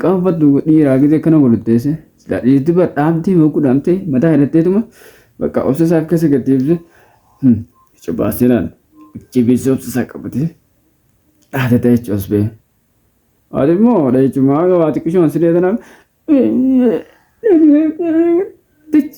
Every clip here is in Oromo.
Qaanfadhu dhiiraa gizee kana walutteesse silaa dhiirti bar dhaamtee mogguu dhaamtee mataa hidhatteetuma bakka obsa isaa akka isa gaddeebise ija baasee laal ijji beessa obsa isaa qabatee dhaate ta'e jechuus bee. Ati immoo dhahichumaa gabaati qishoon silee tanaaf. Tich.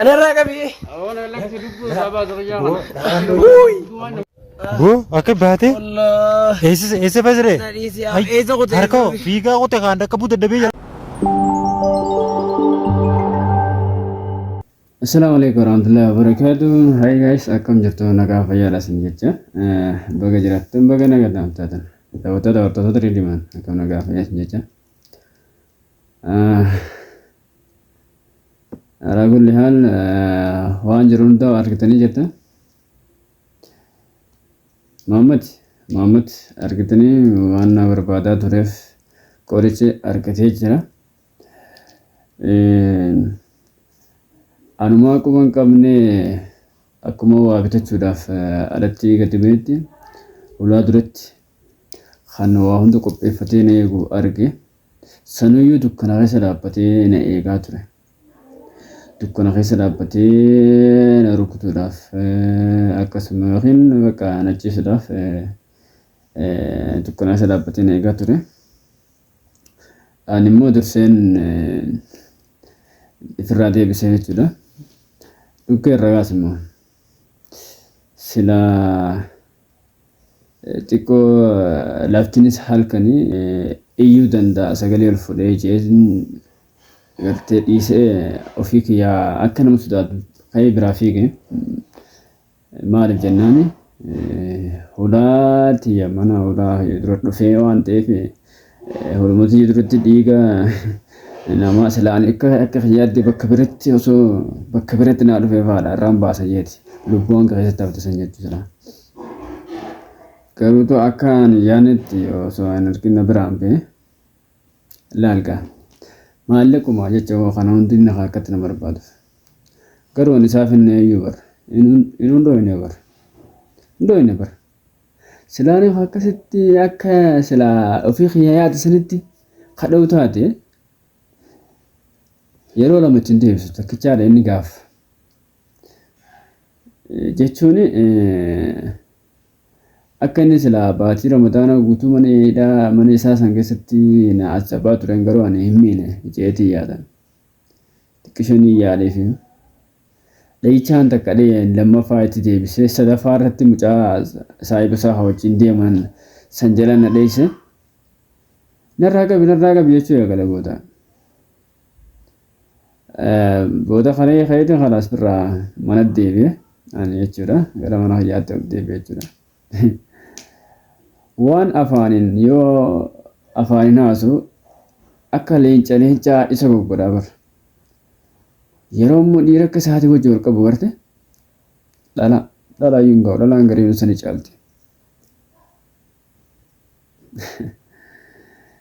Ana irraa qabi. Awoon elekti dubbuu isaa baasa fayyaa kana. Boo akka baate Allah. eessa eessa basire Sadhiisi yaa. Eessa kutee? harka hoo fiigaa qote kaan akka buute dabee jala. Assalamu alaikum warahmatullahi wabarakatuh. Hi guys, akkam jirtu nagaa fayyaadha isin jecha. Eh, Baga jiraattan baga nagaa taatan. Daawwattoota hordoftoota Ridiman akkam nagaa fayyaa isin jecha. Ah, Alaa kulli haal waan jiru hundaa argitanii jirta. Muhammad Muhammad argitanii waan na barbaadaa tureef qorichi argatee jira. Anumaa quba hin qabne akkuma waa bitachuudhaaf alatti gadi ba'etti ulaa duratti kan waa hunda qopheeffatee na eegu arge. Sanuyyuu dukkana keessa dhaabbatee na eegaa ture. Dukkana keessa dhaabbatee na rukutuudhaaf akkasuma yookiin bakka na ciisuudhaaf dukkana keessa dhaabbatee na eegaa ture. Ani immoo durseen ifirraa deebisee jechuudha. Dhukkee irra gaas immoo silaa Xiqqoo laftinis halkani iyyuu danda'a sagalee ol fudhee jeetin gartee dhiisee ofii kiyyaa akka nama sodaatu ka'ee biraa fiige. Maaliif jennaani hulaa tiyya mana hulaa dura dhufee waan ta'eef Hormaatii jirutti dhiiga namaa silaa ani akka akka kiyyaatti bakka biratti osoo bakka biratti naa dhufee faadha irraan baasa jeeti lubbuu hanga keessatti hafte san jechuu silaa. Garuu too akka ani yaanitti osoo hin argin na biraan bee laalga maallaquma jecha hoo kana hundi inni akkatti na barbaaduf. Garuu ani isaaf hin eeyyuu bar hin hundoo hin bar hundoo hin bar. Silaa nama akkasitti akka silaa ofii kiyya yaade sanitti kadha'u taate yeroo lama ittiin deebisu takkichaadha inni gaaf. Jechuun akka inni silaa baatii ramadaanaa guutuu mana hidhaa mana isaa san keessatti na asabaa turen garuu ani hin miine jeetii yaadan. Xiqqisho ni yaaleefi. Dhahichaan takka dhaheen lammaffaa itti deebisee sadaffaa irratti mucaa saahiba isaa wajjin deeman san jala na dheesse narraa qabi narraa qabi jechuu eegale booda. Booda kalee ka'eeti kalaas birraa mana deebi'e ani jechuudha gara mana kiyyaatti ol deebi'e jechuudha. Waan afaanin yoo afaanin haasu akka leenca leencaa isa goggodha bar. Yeroo immoo dhiira akka isaatii wajji wal qabu garte dhala dhala iyyuu hin ga'u dhalaan gariin isa ni caalti.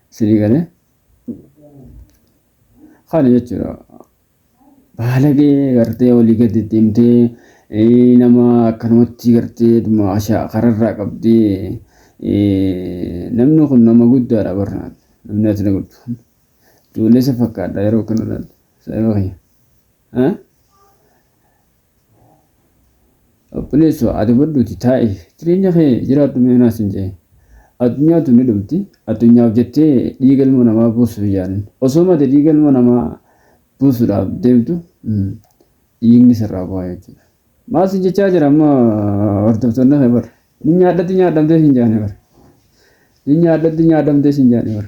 Sini galee kana jechuudha. Baalagee gartee olii gad deddeemtee nama akkanumatti gartee dhuma ashaa kararraa qabdee namni kun nama guddaadha barnaan namni ati na guddu kun ijoollee isa fakkaadha yeroo kana laal saayoo kiyya. Obboleesso adabadhuuti taa'i jireenya kee jiraadhu mee anaa sin je'e. Addunyaa tun ni dhumti, addunyaaf jettee dhiiga ilma namaa buusuuf hin yaalin. Osooma ati dhiiga ilma namaa buusuudhaaf deemtu dhiigni sirraa bu'aa jechuudha. Maal sin jechaa jira amma hordoftoonni kee bar. Ni nyaadhatti nyaadhamtee sin jaane bar. Ni nyaadhatti nyaadhamtee sin jaane bar.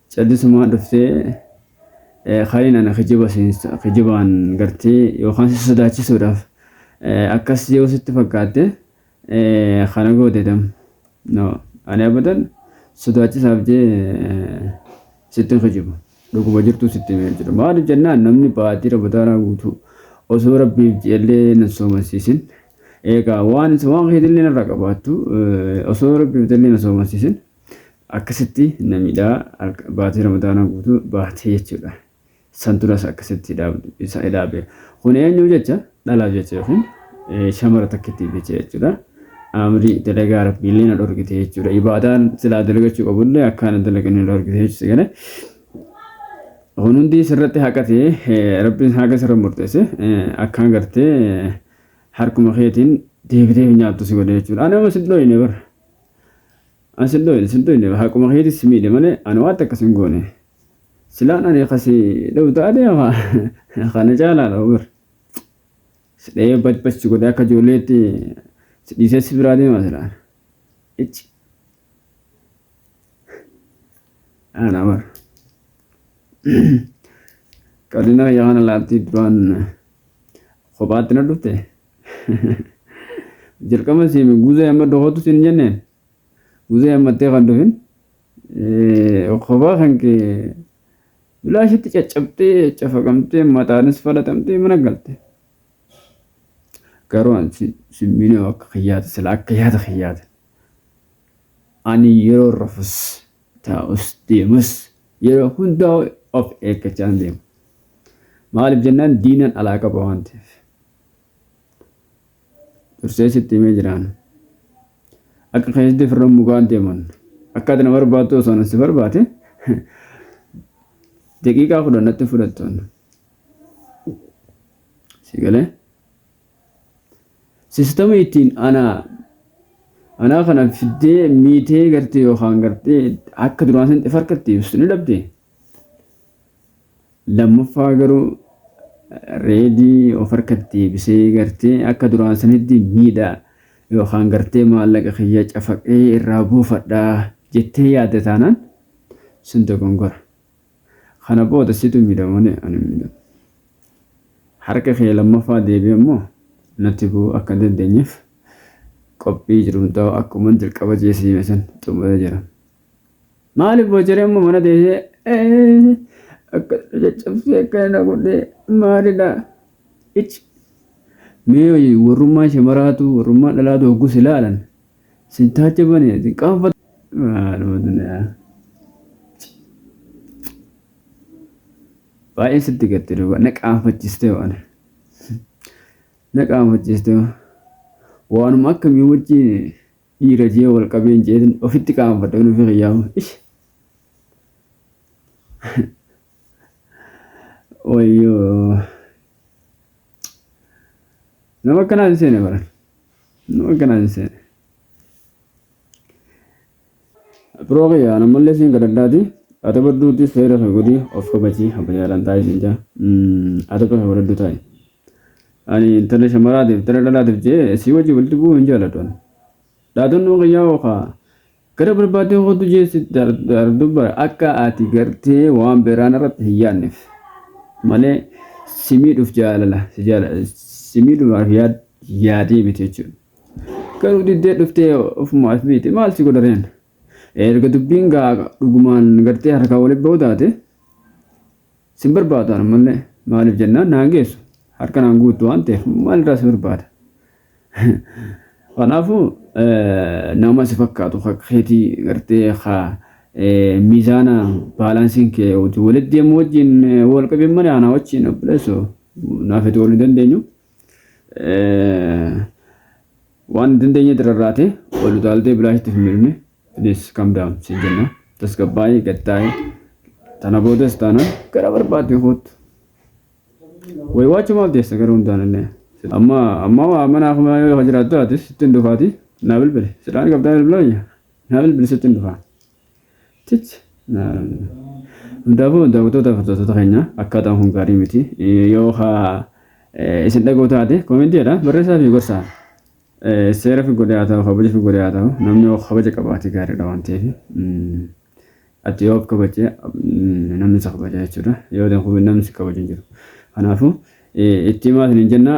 Callisumaa dhuftee Khaliin ana kijiba kijibaan gartee yookaan si sodaachisuudhaaf akkas yoo sitti fakkaatte kana goote dam. No ani abadan sodaachisaaf jee sitti hin kijibu. Dhuguma jirtuu sitti himee jira. Maaliif jennaan namni baatii rabadaanaa guutuu osoo rabbiif jeellee nan soomansiisin. Egaa waan waan keetillee narra qabaattu osoo rabbiif jeellee na soomansiisin. akkasitti na miidha halka- baatii ramadaanaa guutuu baatee jechuudha san turas akkasitti hidhaabdu isa hidhaabe kun eenyuu jecha dhalaaf jecha yookiin eh, shamara takkittiif jecha jechuudha amri dalagaa rabbiillee na dhorgite jechuudha ibaadaan silaa dalagachuu qabullee akkaan hin dalaganne na dhorgite jechuudha gale kun hundi sirratti haqate eh, rabbiin haqa sirra murteesse eh, akkaan gartee eh, harkuma keetiin deebitee nyaattu si godhe jechuudha anama si dhooyne bara An sin dhoyne sin dhoyne haquma keeti si miidhe malee an waan takka sin goone. Silaan ani ka si dhawu taate kana caalaa dhawu bar. Si dhayee bad bad si godhee akka ijoolleetti si dhiisee si biraa deema silaan. Icci. Ana bar. Qalina kiyya kana laattii duraan kophaatti na dhufte. Jalqaba siin guzee amma dokotu siin jenneen guzee ammattee kan dhufin kophaa kan kee bilaashitti caccabtee cafaqamtee mataanis falatamtee mana galte. Garuu an siin miinee akka kiyyaati sila akka yaada kiyyaati. Ani yeroo rafus taa'us deemus yeroo hundaa of eeggachaan deema. Maaliif jennaan diinan alaa qaba waan ta'eef. dursee sitti himee jiraan akka keessatti firran mukaan deeman akka ati na barbaaddu osoo na si barbaade daqiiqaa kudhan natti fudhattoon si galee sistama ittiin anaa anaa kana fiddee miitee gartee yookaan gartee akka duraan sanatti farkatti ibsu ni dhabdee Lammaffaa garuu reedii of harkatti deebisee gartee akka duraan sanitti miidha yookaan gartee maallaqa kiyya cafaqee irraa buufadha jettee yaadde taanaan sun dogongora. Kana booda situ miidha malee ani hin miidhamu. Harka kee lammaffaa deebi'e immoo natti bu'uu akka dandeenyeef qophii jiru hundaa'u akkuma jalqaba jeesii san xumuree jira. Maaliif boojaree amma mana teessee akka caccabsee akka na godhee maalidha ichi mee warrummaa shamaraatu warrummaa dhalaatu hoggus ilaalan sin taacha bane sin qaanfatu maaluma duniyaa baay'ee sitti gatte duuba na qaanfachiste waan na qaanfachiste waanuma akkamii wajjin dhiira jee wal qabee hin jeetin ofitti qaanfadhe nufi kiyyaama ish wayyoo nama akkanaa hin seene bara nama akkanaa hin seene biroo kiyya nammallee siin gadaddaati adaba duuti seera kee godhi of kabajii abbayyaadhaan taa'e siin jaa adaba kee godhaddu taa'e Ani intala shamaraatiif intala dhalaatiif je'ee sii wajji walitti bu'uu hin jaaladhu ani. Dhaadannoon kiyyaa hoo kaa gara barbaaddeen koottu je'ee si dardu bara akka ati gartee waan biraa narratti hin yaadneef malee si miidhuuf jaalala si jaala si miidhuudhaaf yaad yaadee miti jechuudha. Garuu diddee dhuftee ofuma as biite maal si godha reen? Erga dubbiin gaa dhugumaan gartee harkaa walitti ba'uu taate Sin barbaadu an ammallee maaliif jennaan naan geessu harka naan guuttu waan ta'eef maalirraa si barbaada. Kanaafuu nama si fakkaatu keetii gartee haa miizaana baalaansiin kee hojii walitti deemu wajjin wal qabin malee anaa wajjin obboleessoo naaf itti wal hin dandeenyu. Waan dandeenyetti rarraate, ol utaaltee bilaashitti hin miidhmne. Please calm down siin jenna. Tasgabbaa'i, gad taa'i. Tana boodas taanaan gara barbaadde koottu. Way waachuu maaf deessa gara hundaan illee. Amma amma waa manaa kuma yoo jiraattu ati sitti hin dhufaati. Naa bilbili. Silaan qabdaa bilbilaa biyya. Naa bilbili sitti hin dhufaa. Cici. Hundaafuu daawwattoota hordoftoota keenya akkaataan kun gaarii miti. Yoo isin dhaga'u taate koomentii jedha barreessaa fi gorsaa. Seera fi godee haa ta'u kabaja fi godee haa ta'u namni yoo kabaja qabaate gaariidha waan ta'eef. Ati yoo kabaje namni isa kabaja jechuudha. Yoo namni si kabaju hin jiru. Kanaafuu itti himaa isin hin jenna.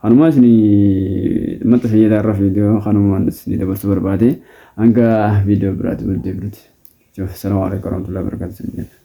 Kanumaa isinii maxxasa jedha irra viidiyoo kanumaan isinii dabarsuu barbaade hanga viidiyoo biraatti wal deebinuti. Salaam alaikum warahmatullahi wabarakatuh.